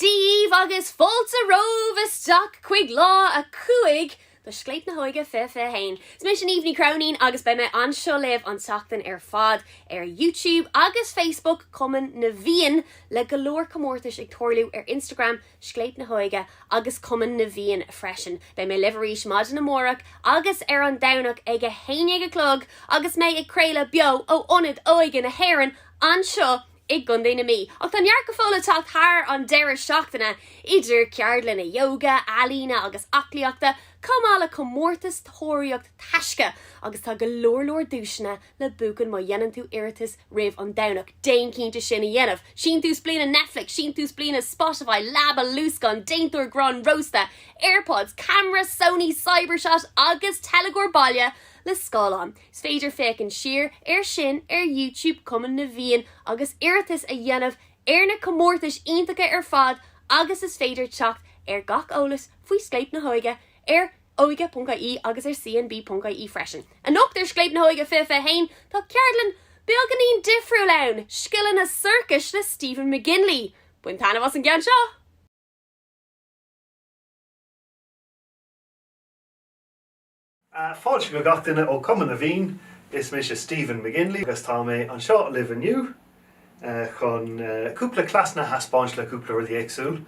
díbh agus fáilte romhaibh isteach chuig Lá 5 de Scléip na hÓige 2021. Is mise Niamh Ní Chróinín agus beidh mé anseo libh an tseachtain ar fad ar YouTube agus Facebook Chumann na bhFiann le go leor comórtais ag tarlú ar Instagram Scléip na hÓige agus Cumann na bhFiann freisin. Beidh mé libh arís maidin amárach agus ar an Domhnach ag 11 a chlog agus mé ag craoladh beo ó Ionad Óige na hÉireann anseo i gContae na Mí. Ach tá neart go fóill le teacht thar an deireadh seachtaine, idir ceardlanna ióga, ealaíne agus aclaíochta, chomh maith le comórtas tóraíocht taisce agus tá go leor leor duaiseanna le buachan má dhéanann tú iarratas roimh an Domhnach, déan cinnte sin a dhéanamh! Síntiús bliana Netflix, síntiús bliana Spotify, leaba luascáin, déantóir grán rósta, Airpods, ceamara Sony Cybershot agus teilgeoir baile le scáileán. Is féidir féachaint siar ar sin ar YouTube Cumann na bhFiann agus iarratas a dhéanamh ar na comórtais iontacha ar fad agus is féidir teacht ar gach eolas faoi Scléip na hÓige ar óige.ie agus ar cnb.ie freisin. Anocht ar Scléip na hÓige 2021 tá ceardlann beagáinín difriúil ann, Scileanna Sorcais le Stephen McGinley. Bain taitneamh as an gceann seo! Fáilte go gach duine ó Cumann na bhFiann. Is mise Stephen McGinley agus tá mé anseo libh inniu chun cúpla cleasanna a thaispeáint le cúpla rudaí éagsúil.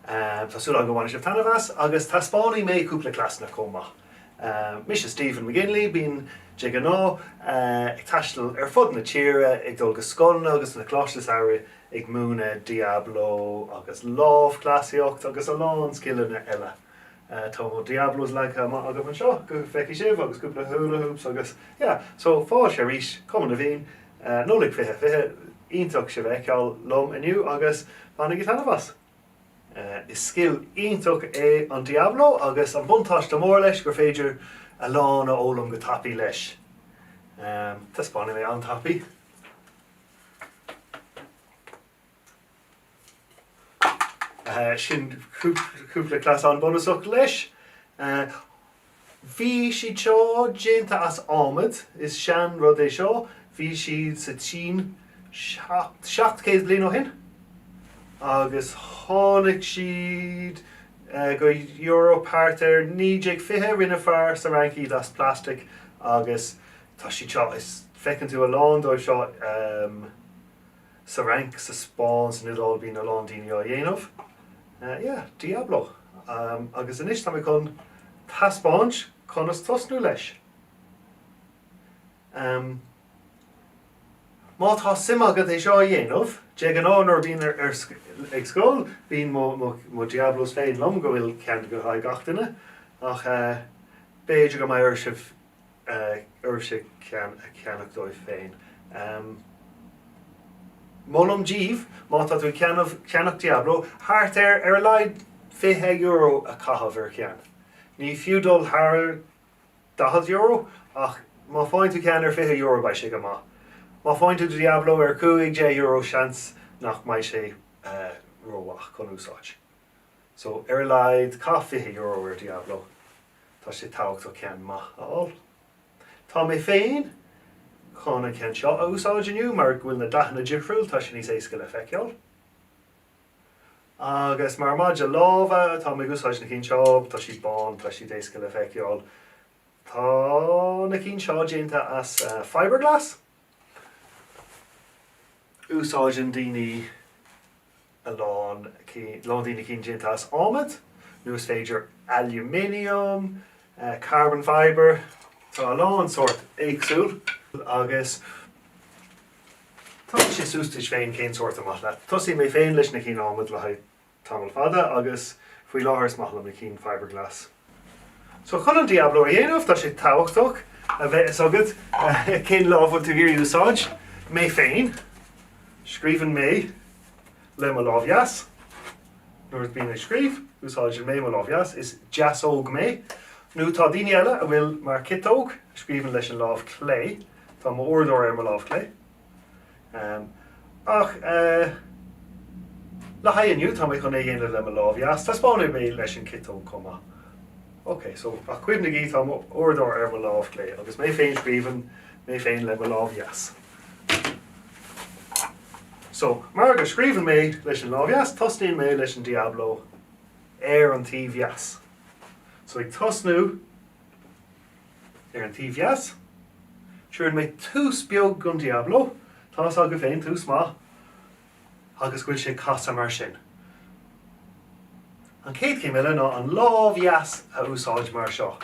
Tá súil agam go mbainfidh sibh taitneamh as agus taispeánfaidh mé cúpla cleasanna chomh maith. Mise Stephen McGinley, bím de ghnáth ag taisteal ar fud na tíre ag dul go scoileanna agus na coláiste samhraidh ag múineadh Diablo agus lámhchleasaíocht agus a lán scileanna eile. Tá Diablos agam anseo go bhfeicfidh sibh agus cúpla hula hoops agus so fáilte arís Cumann na bhFiann Nollaig 2020 iontach sibh a fheiceáil liom inniu agus bainigí taitneamh as. Is scil iontach é an Diablo agus an buntáiste mór leis gur féidir a lán a fhoghlaim go tapaidh leis. Taispeánfaidh mé an-tapaidh. sin cúpla cleasanna bunúsach leis. Bhí siad seo déanta as adhmad, is sean rud é seo, bhí siad sa tSín seacht céad bliain ó shin agus tháinig siad go Eoraip thart ar 1920, rinne fear sa Fhrainc iad as plastic agus tá siad seo, is feiceann tú a lán dóibh seo. Sa Fhrainc, sa Spáinn, san Iodáil bíonn a lán daoine á dhéanamh. Yeah, Diablo. Agus anois tá mé chun taispeáint conas tosnú leis. Ahem. Má tá suim agat é seo a dhéanamh, de ghnáth nuair a bhím ar scoil bíonn mo Diablos féin liom, go bhfuil ceann le haghaidh gach duine, ach b'fhéidir go mbeidh oraibh. oraibhse a cheannach daoibh féin. Molaim díbh, má tá tú ag ceannach Diablo, thart ar ar a laghad €20 a chaitheamh ar cheann. Ní fiú dul thar €40, ach má faigheann tú ceann ar €20 beidh sé go maith. Má faigheann tú Diablo ar €15 seans nach mbeidh sé rómhaith chun úsáid. So, ar a laghad caith €20 ar Diablo. Tá sé tabhachtach ceann maith a fháil. Tá mé féin chun an ceann seo a úsáid inniu mar go bhfuil na dathanna difriúil, tá sé níos éasca le feiceáil. Agus mar maide lámha tá mé ag úsáid na cinn seo, tá siad bán, tá siad éasca le feiceáil. Tá na cinn seo déanta as fibreglass. Úsáideann daoine a lán cinn, lán daoine cinn déanta as adhmad, nó is féidir aluminium, carbon fibre, tá a lán sórt éagsúil agus tá sé suas duit féin cén sórt is maith leat. Thosaigh mé féin leis na cinn adhmad le haghaidh tamall fada agus faoi láthair is maith liom na cinn fibreglass. So chun an Diablo a dhéanamh tá sé tabhachtach a bheith a fhios agat cén lámh bhfuil tú ag iarraidh úsáid. Mé féin, scríobhann mé le mo lámh dheas. Nuair a bhím ag scríobh, úsáideann mé mo lámh dheas, is deasóg mé. Nó tá daoine eile a bhfuil mar ciotóg, scríobhann leis an lámh chlé. Tá m'uaireadóir ar mo lámh chlé. Ach le haghaidh inniu tá mé chun é dhéanamh le mo lámh dheas, taispeánfaidh mé leis an ciotóg chomh maith. Ok, so ach cuimhnigí tá mo uaireadóir ar mo lámh chlé agus mé féin scríobhann mé féin le mo lámh dheas. So mar go scríobhann mé leis an lámh dheas, tosnaíonn mé leis an Diablo ar an taobh dheas. So ag tosnú Ar an taobh dheas, tugann mé tús beag gon Diablo, tá fhios agaibh féin, tús maith agus go bhfuil sé ag casadh mar sin. An chéad chéim eile ná an lámh dheas a úsáid mar seo.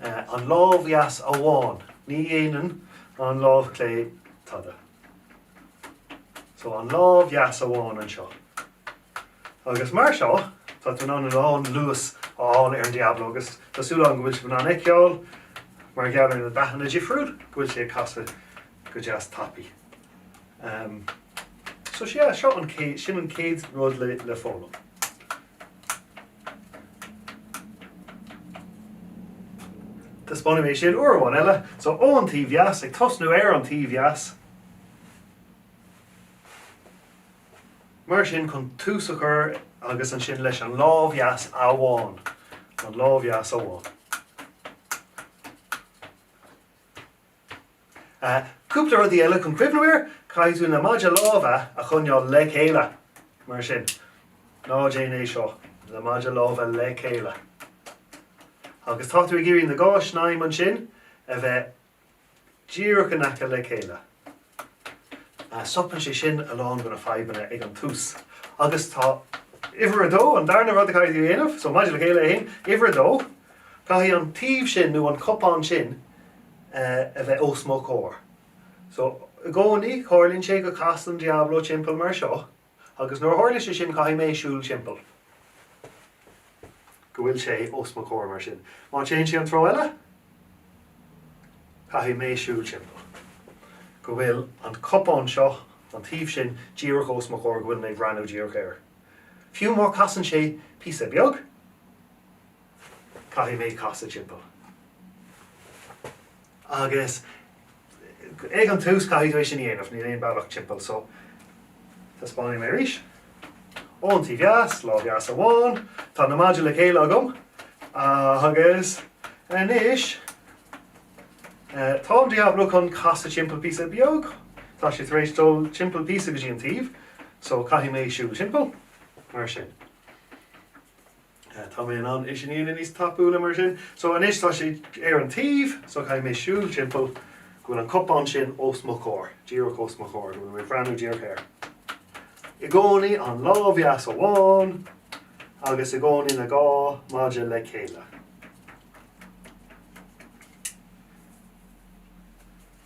An lámh dheas amháin, ní dhéanann an lámh chlé tada. So an lámh dheas amháin anseo. Agus mar seo, tá tú in ann a lán luas a fháil ar an Diablo agus tá súil agam go bhfuil sibh in ann a fheiceáil, mar gheall ar na dathanna difriúil, go bhfuil sé ag casadh go deas tapaidh. Ehm, so sea, seo an céad, sin an chéad rud le, le foghlaim. Taispeánfaidh mé sin uair amháin eile. So ó an taobh dheas, ag tosnú ar an taobh dheas, Mar sin chun tús a chur agus ansin leis an lámh dheas amháin, an lámh dheas amháin. Cúpla rudaí eile chun cuimhniú air, caithfidh tú na maidí láimhe a choinneáil le chéile, mar sin. Ná déan é seo, na maidí láimhe le chéile. Agus tá tú ag iarraidh na dhá shnaidhm ansin a bheith díreach in aice le chéile. Stopann sé sin a lán de na fadhbanna ag an tús agus tá uimhir a dó, an darna rud a chaithfidh tú a dhéanamh, so maidí le chéile a haon, uimhir a dó, caithfidh an taobh sin nó an cupán sin a bheith os mo chomhair. So i gcónaí, tharlaíonn sé go casann an Diablo timpeall mar seo. Agus nuair a tharlaíonn sé sin caithfidh mé siúl timpeall. go bhfuil sé os mo chomhair mar sin. Má téann sé an treo eile, caithfidh mé siúl timpeall. go bhfuil an cupán seo an taobh sin díreach os mo chomhair, go bhfuil mé ag breathnú díreach air. Fiú má chasann sé píosa beag, caithfidh mé casadh timpeall. Agus. Ag an tús caithfidh tú é sin a dhéanamh, níl aon bealach timpeall so. Taispeánfaidh mé arís. Ón taobh dheas, lámh dheas amháin, tá na maidí le chéile agam agus anois tá an Diablo chun casadh timpeall píosa beag. Tá sé tar éis dul timpeall píosa go dtí an taobh so caithfidh mé siúl timpeall mar sin. Tá mé in ann é sin a dhéanamh níos tapúla mar sin. So anois tá sé ar an taobh, so caithfidh mé siúl timpeall go bhfuil an cupán sin os mo chomhair, díreach os mo chomhair, go bhfuil mé ag breathnú díreach air. I gcónaí an lámh dheas amháin agus i gcónaí na dhá maidí le chéile.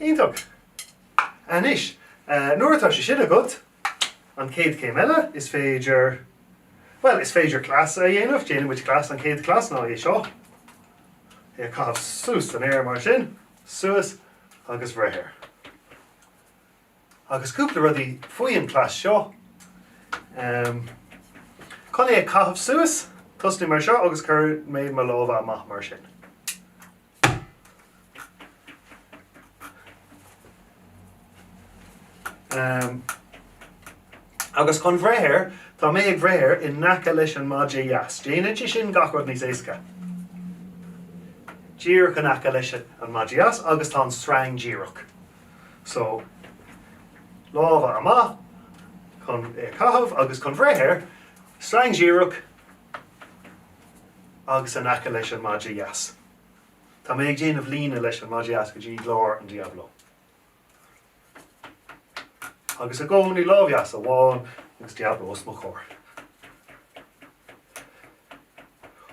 Iontach! Anois, nuair atá sé sin agat, an chéad chéim eile, is féidir, bhuel, is féidir cleas a dhéanamh, déanfaidh muid cleas, an chéad chleas ná é seo, é a chaitheamh suas san aer mar sin, suas agus breith air. Agus cúpla rudaí faoin cleas seo. Chun é a caitheamh suas, tosnaigh mar seo agus cuireann mé mo lámha amach mar sin. Agus chun bhreith air, tá mé ag breith air in aice leis an maide dheas. Déanann sé sin gach rud níos éasca. Díreach in aice leis an maide dheas agus tá an sreang díreach. So, lámha amach chun é a chaitheamh agus chun bhreith air, sreang díreach agus in aice leis an maide dheas. Tá mé ag déanamh líne leis an maide dheas go dtí lár an Diablo. Agus i gcónaí lámh dheas amháin agus Diablo os mo chomhair.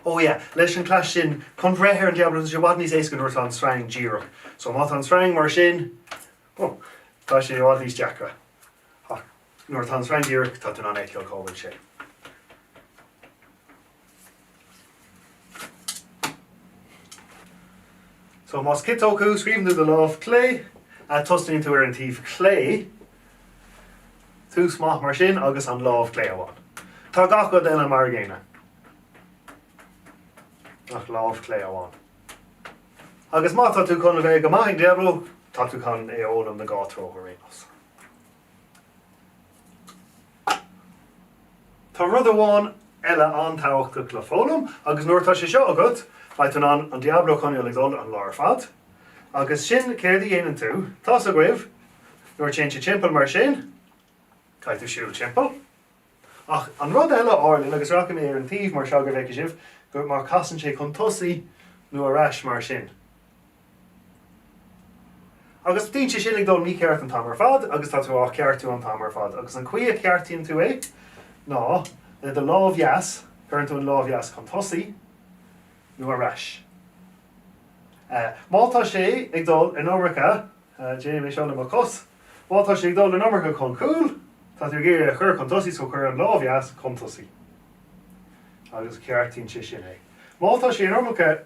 Oh yeah, leis an cleas sin, chun bhreith ar an Diablo tá sé i bhfad níos éasca nuair atá an sreang díreach. So má tá an sreang mar sin, oh, tá sé i bhfad níos deacra. Ach nuair atá an sreang díreach, tá tú in ann a fheiceáil cá bhfuil sé. So más ciotóg thú, scríobhann tú le do lámh clé, tosnaíonn tú ar an taobh clé, Tús maith mar sin agus an lámh clé amháin. Tá gach rud eile mar a gcéanna ach lámh clé amháin. Agus má tá tú chun a bheith go maith ag Diablo, tá tú chun é a fhoghlaim an dá threo ar aon nós. Tá rud amháin eile an-tábhachtach le foghlaim agus nuair atá sé seo agat beidh tú in ann an Diablo a choinneáil ag dul an lá ar fad. Agus sin céard a dhéanann tú, tá's agaibh nuair a téann sé timpeall mar sin, caithfidh tú siúl timpeall. Ach an rud eile a tharlaíonn agus rachaidh mé ar an taobh mar seo go bhfeicfidh sibh gur mar casann sé chun tosaigh nó ar ais mar sin. Agus bíonn sé sin ag dul mícheart an t-am ar fad agus tá tú á cheartú an t-am ar fad agus an chaoi a cheartaíonn tú é ná le do lámh dheas, cuireann tú an lámh dheas chun tosaigh nó ar ais. Má tá sé ag dul in iomarca, déanaim é seo le mo chos, má tá sé ag dul in iomarca chun cúl, tá tú ag iarraidh é a chur chun tosaigh so cuir an lámh dheas chun tosaigh agus ceartaíonn sé sin é. Má tá sé in iomarca,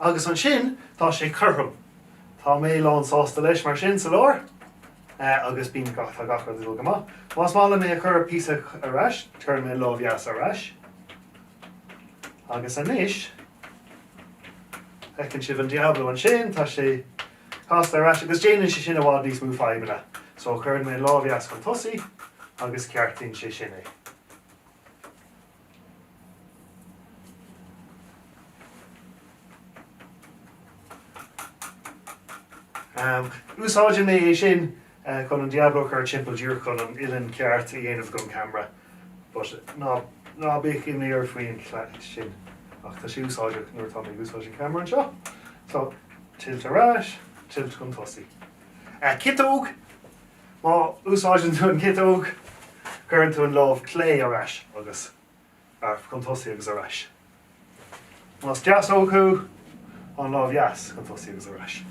Agus ansin tá sé cothrom. Tá mé lán sásta leis mar sin sa lár. Eh agus bíonn gach, tá gach rud ag dul go maith. Más maith liom é a chur píosa ar ais, cuirim mo lámh dheas ar ais. Agus anois, feiceann sibh an Diablo ansin, tá sé casta ar ais agus déanann sé sin i bhfad níos mó fadhbanna. So cuirim mo lámh dheas chun tosaigh agus ceartaíonn sé sin é. Úsáideann mé é sin chun an Diablo a chur timpeall díreach chun an uillinn ceart a dhéanamh don camera but ná bíodh imní ort faoi sin ach tá sé úsáideach nuair atá mé ag úsáid an camera anseo so tilt ar ais tilt chun tosaigh. Ciotóg! Má úsáideann tú an ciotóg, cuireann tú an lámh clé ar ais agus chun tosaigh agus ar ais. Más deasóg thú, an lámh dheas chun tosaigh agus ar ais.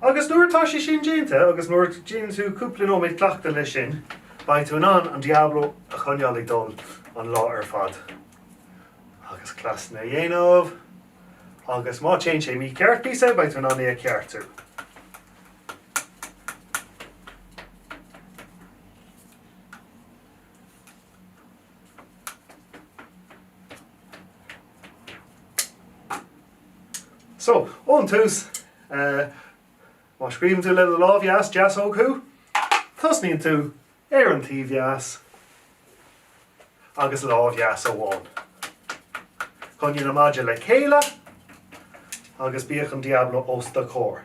Agus nuair atá sé sin déanta agus nuair a dhéanann tú cúpla nóiméad cleachtaidh leis sin, beidh tú in ann an Diablo a choinneáil ag dul an lá ar fad agus cleasanna a dhéanamh. agus má téann sé mícheart píosa beidh tú in ann é a cheartú. So, ón tús, má scríobhann tú le do lámh dheas deasóg thú, tosnaíonn tú Ar an taobh dheas agus lámh dheas amháin. Coinnigh na maidí le chéile agus bíodh an Diablo os do chomhair.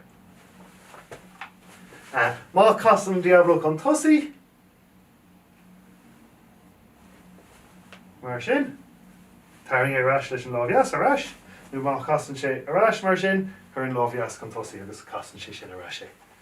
Má chasann an Diablo chun tosaigh, mar sin, tarraing é ar ais leis an lámh dheas ar ais, nó má chasann sé ar ais, mar sin, cuir an lámh dheas chun tosaigh agus casann sé sin ar ais é.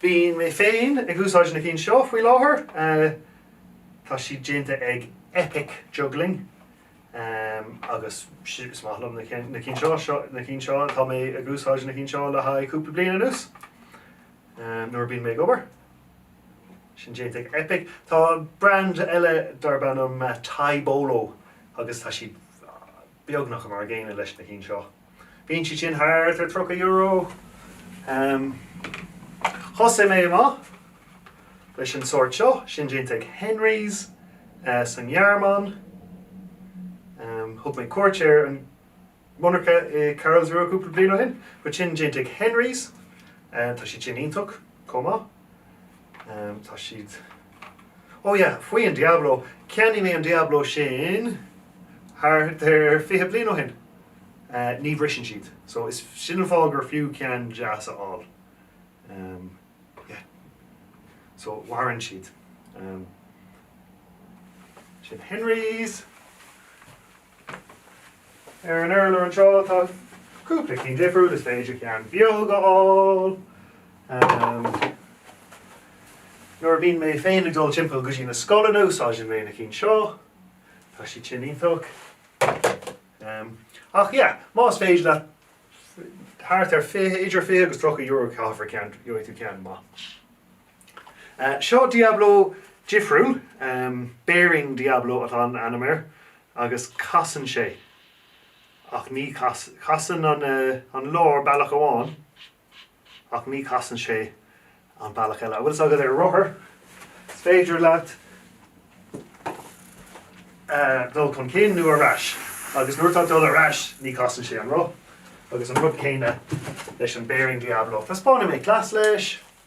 Bíonn mé féin ag úsáid na cinn seo faoi láthair. Tá siad déanta ag Epic Juggling agus is maith liom na cinn seo. Tá mé ag úsáid na cinn seo le haghaidh cúpla bliain anuas. Nuair a bhíonn mé ag obair. Sin déanta ag Epic. Tá brand eile darb ainm Taibolo agus tá siad beagnach mar an gcéanna leis na cinn seo. Bíonn siad sin thart ar €30. Thosaigh mé amach leis an sórt seo, sin déanta ag Henry's sa nGearmáin. Thug mé cuairt ar an monarcha i Karlsruhe cúpla bliain ó shin. But sin déanta ag Henry's, tá siad sin iontach chomh maith. Ehm tá siad Ó yeah faoin Diablo, cheannaigh mé an Diablo sin thart ar fiche bliain ó shin. Eh ní bhriseann siad so is sin an fáth gur fiú ceann deas a fháil. Ehm yeah so maireann siad. Ehm sin Henry's. Ar an urlár anseo tá cúpla ceann difriúil, is féidir ceann beag a fháil. Nuair a bhíonn mé féin ag dul timpeall go dtí na scoileanna úsáideann mé na cinn seo, tá siad sin iontach. Ach yeah, más féidir leat thart ar idir €20 agus €30 a chaitheamh ar ceann, gheobhaidh tú ceann maith. Seo Diablo difriúil, bearing Diablo atá an ainm air, agus casann sé, ach ní casann an lár bealach amháin ach ní casann sé an bealach eile. An bhfuil fhios agat ar rothar is féidir leat dul chun cinn nó ar ais agus nuair atá dul ar ais ní casann sé an roth agus an rud céanna leis an bearing Diablo. Taispeánfaidh mé cleas leis.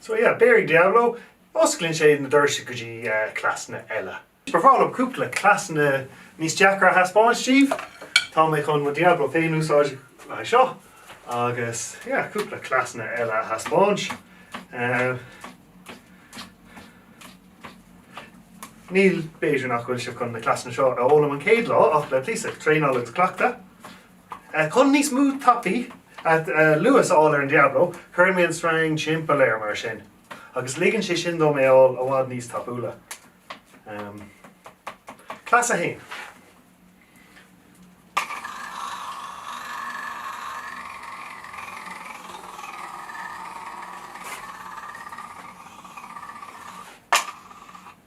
So yeah, bearing Diablo, osclaíonn sé na doirse go dtí cleasanna eile. Ba bhreá liom cúpla cleasanna níos deacra a thaispeáint daoibh. Tá mé chun mo Diablo féin a úsáid le haghaidh seo agus yeah, cúpla cleasanna eile a thaispeáint. Níl, b'fhéidir nach bhfuil sibh chun na cleasanna seo a fhoghlaim an chéad lá ach le píosa traenála agus cleachtadh. Chun níos mó tapaí, luas, a fháil ar an Diablo, cuireann mé an string timpeall air mar sin agus ligeann sé sin dom é a fháil i bhfad níos tapúla. Cleas 1.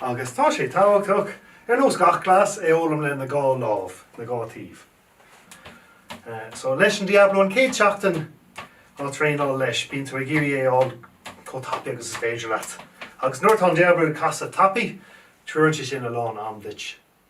Agus tá sé tabhachtach, ar nós gach cleas, é fhoghlaim le na dhá lámh, na dhá taobh. So leis an Diablo an céad seachtain á traenáil leis, bíonn tú ag iarraidh é a fháil chomh tapaidh agus is féidir leat. Agus nuair atá an Diablo ag casadh tapaidh, tugann sé sin a lán am duit.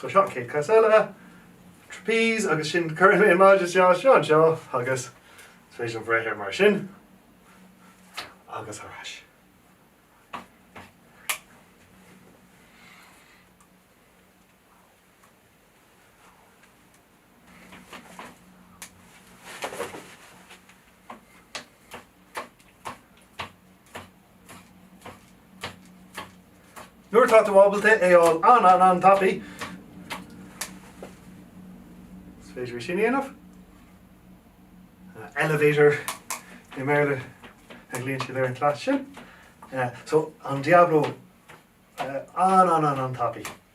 So seo an chéad cleas eile, trapeze, agus sin cuireann mé an maide seo anseo agus is féidir liom breith air mar sin agus ar ais. Nuair atá tú ábalta é a fháil an-an-an-tapaidh, is féidir é sin a dhéanamh. Elevator i mBéarla a ghlaonn siad ar an cleas sin. So, an Diablo an-an-an-tapaidh.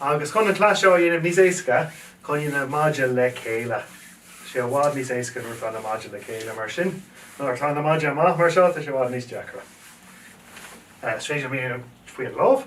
Agus chun an cleas seo a dhéanamh níos éasca, coinnigh na maidí le chéile. Tá sé i bhfad níos éasca nuair atá na maidí le chéile mar sin. Nuair atá na maidí amach mar seo, tá sé i bhfad níos deacra. Is féidir é faoi an lámh.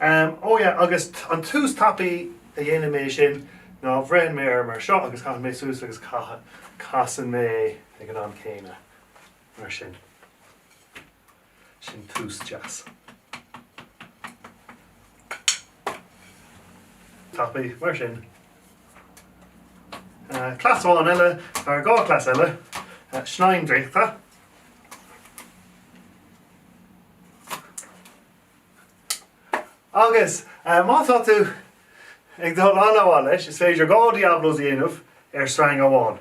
Ó yeah agus an tús tapaidh a dhéanann mé sin ná beireann mé air mar seo agus caitheann mé suas agus casann mé ag an am céanna. Mar sin. Sin tús deas. Tapaidh mar sin. Cleas amháin eile, nó dhá chleas eile, snaidhm draíochta. Agus má tá tú ag dul an-mhaith leis, is féidir dhá Diablos a dhéanamh ar sreang amháin.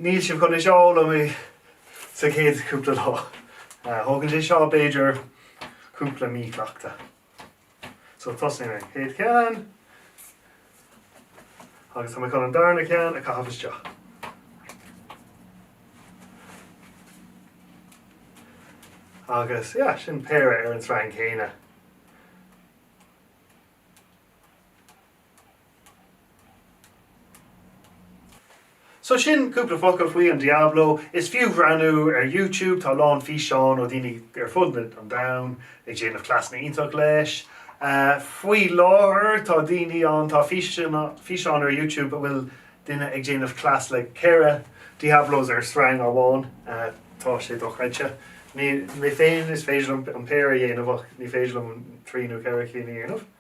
Níl sibh chun é seo a fhoghlaim sa chéad cúpla lá. Tógann sé seo b'fhéidir cúpla mí cleachta. So tosaím an chéad cheann agus tá mé chun an darna ceann a chaitheamh isteach. Agus yeah, sin péire ar an sreang céanna. So sin cúpla focal faoi an Diablo. Is fiú breathnú ar YouTube, tá a lán físeán ó daoine ar fud an domhain ag déanamh cleasanna iontach leis. Faoi láthair tá daoine ann, tá físeán ar YouTube a bhfuil duine ag déanamh cleas le ceithre Diablos ar sreang amháin, tá sé dochreidte. Mé féin is féidir liom an péire a dhéanamh ach ní féidir liom trí nó ceithre cinn a dhéanamh.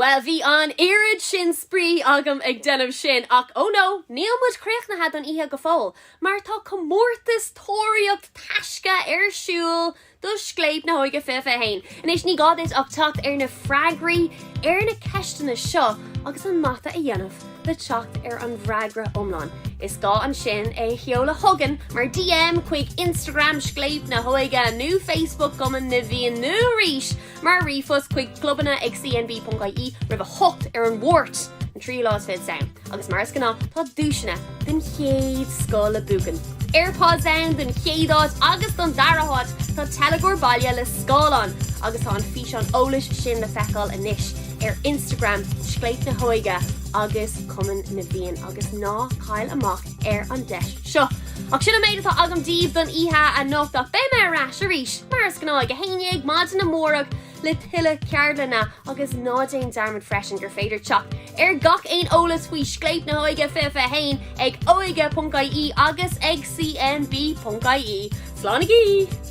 Bhuel, bhí an oiread sin spraoi agam ag déanamh sin, ach oh no, níl muid críochnaithe don oíche go fóill, mar tá comórtas Tóraíocht Taisce ar siúl do Scléip na hÓige fiche fiche haon. Anois, ní gá duit ach teacht ar na freagraí ar na ceisteanna seo agus an mata a dhéanamh le teacht ar an bhfreagra iomlán. Is gá ansin é a sheoladh chugainn mar DM chuig Instagram Scléip na hÓige nó Facebook Cumann na bhFiann nó arís Mar ríomhphost chuig clubanna ag CNB.ie, roimh a hocht ar an Máirt, an tríú lá is fichead Samhain, agus mar is gnáth tá duaiseanna den chéad scoth le buachan, Airpods ann don chéad áit agus don dara háit tá teilgeoir baile le scáileán agus tá an físeán eolais sin le feiceáil anois ar Instagram Scléip na hÓige agus Cumann na bhFiann agus ná caill amach ar an deis seo. Ach sin an méid atá agam daoibh don oíche anocht ach beidh mé ar ais arís mar is gnáth ag a haon dhéag maidin amárach le tuilleadh ceardlanna agus ná déan dearmad freisin gur féidir teacht ar gach aon eolas faoi Scléip na hÓige fiche a haon ag óige.ie agus ag CNB.ie. Slánaigí!